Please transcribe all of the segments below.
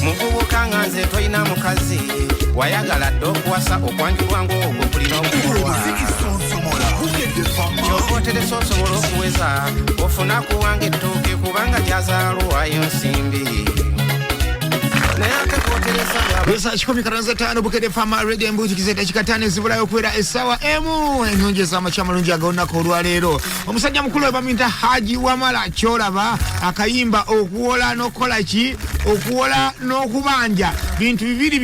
muvubuka nga nze tolina mukazi wayagala dde okuwasa okwanjulwa ngaogwo kulina okukolwa kyova oteresa osobola okuweza ofuna kuwanga ettooke kubanga gyazaalwayo nsimbi naye ate kwoteresa Esa kikumi karanza tano bukede fama rege embuzi kizeta chikatane zibulayo kwera esawa emu enyonje za machamalungi agaonako olwa lero omusajja mukulu we bamuyita haji wamala kyolaba akayimba okuwola n'okukola ki okuwola n'okubanja bintu bibiri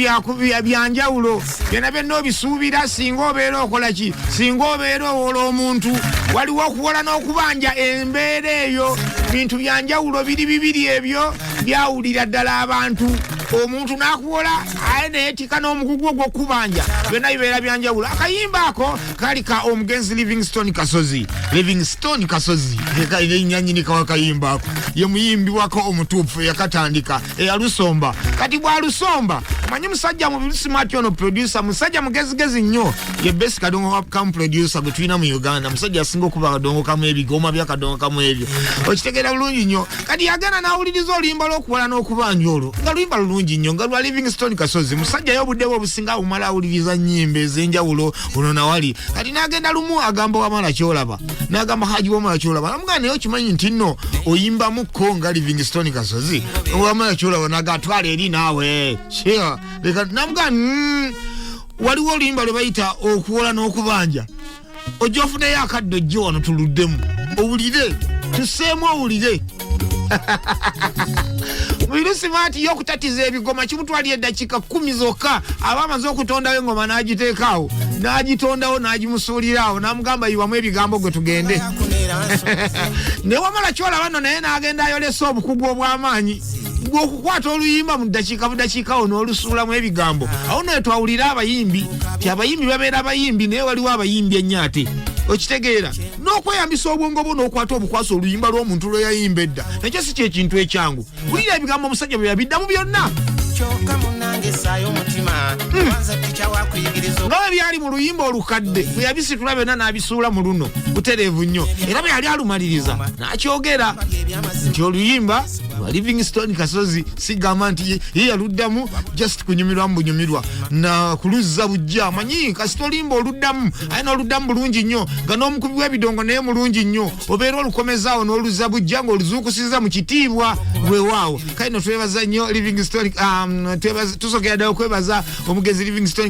byanjawulo byona byonna obisuubira singa obeera okola ki singa obeera owola omuntu waliwo okuwola n'okubanja embeera eyo bintu byanjawulo biri bibiri ebyo byawulira ddala abantu omuntu nakuwola aye naye tika n'omugugu ogwokubanja byonna bibeera byanjawulo akayimba ako kali ka omugenzi livingstone kasozi livingstone kasozi enyanyini kawa kayimba ako ye muyimbi wako omutuufu eyakatandika eyalusomba kati bwalusomba manyi musajja mubisimati ono produsa musajja mugezigezi nnyo ye besi kadongo wakamu produsa gwe tulina mu uganda musajja asinga okuba kadongo kamu ebigoma bya kadongo kamu ebyo okitegeera bulungi nnyo kati yagenda nawuliriza oluyimba lwokuwala n'okubanja olwo nga luyimba lulungi nnyo nga lwa livingstone kasozi musajja yo obudde bwe obusinga awumala awuliriza nnyimba ezenjawulo ono nawali kati nagenda lumu agamba wamala kyolaba nagamba haji wamala kyolaba namugamba naye okimanyi nti nno oyimbamukko nga livingstone kasozi wamala kyolaba naga twala eri naawe namugamba mm, waliwo oluyimba lwe bayita okuwola n'okubanja ojja ofuneyo akadde ojje wano tuluddemu owulire tuseemu owulire virusi maati yo okutatiza ebigoma kimutwalira eddakiika kkumi zokka aba amaze okutondawo engoma n'agiteekaawo n'agitondawo n'agimusuuliraawo n'amugamba yiwamu ebigambo gwe tugende ne wamala kyolaba nno naye n'agenda ayolesa obukugu obw'amaanyi okukwata oluyimba mu ddakiika budakiika wo n'olusuulamu ebigambo awo naye twawulira abayimbi ti abayimbi babeera abayimbi naye waliwo abayimbi ennyo ate okitegeera n'okweyambisa obwongo bwo n'okwata obukwasa oluyimba lw'omuntu lwe yayimba edda nakyo si kyekintu ekyangu wulira ebigambo omusajja bwe yabiddamu byonna hmm. nga bwe byali mu luyimba olukadde bwe yabisitula byonna n'abisuula mu luno butereevu nnyo era bwe yali alumaliriza n'akyogera nti oluyimba lwa livingstone kasozi sigamba nti ye yaluddamu just kunyumirwa mu bunyumirwa na kuluzza bujja amanyi kasita olimba oluddamu aye n'oluddamu bulungi nnyo nga n'omukubi w'ebidongo naye mulungi nnyo obeera olukomezaawo n'oluzza bujja ng'oluzuukusiza mu kitiibwa weewaawo kale no twebaza nnyo livingstone um, tusogera ddala okwebaza omugezi livingstone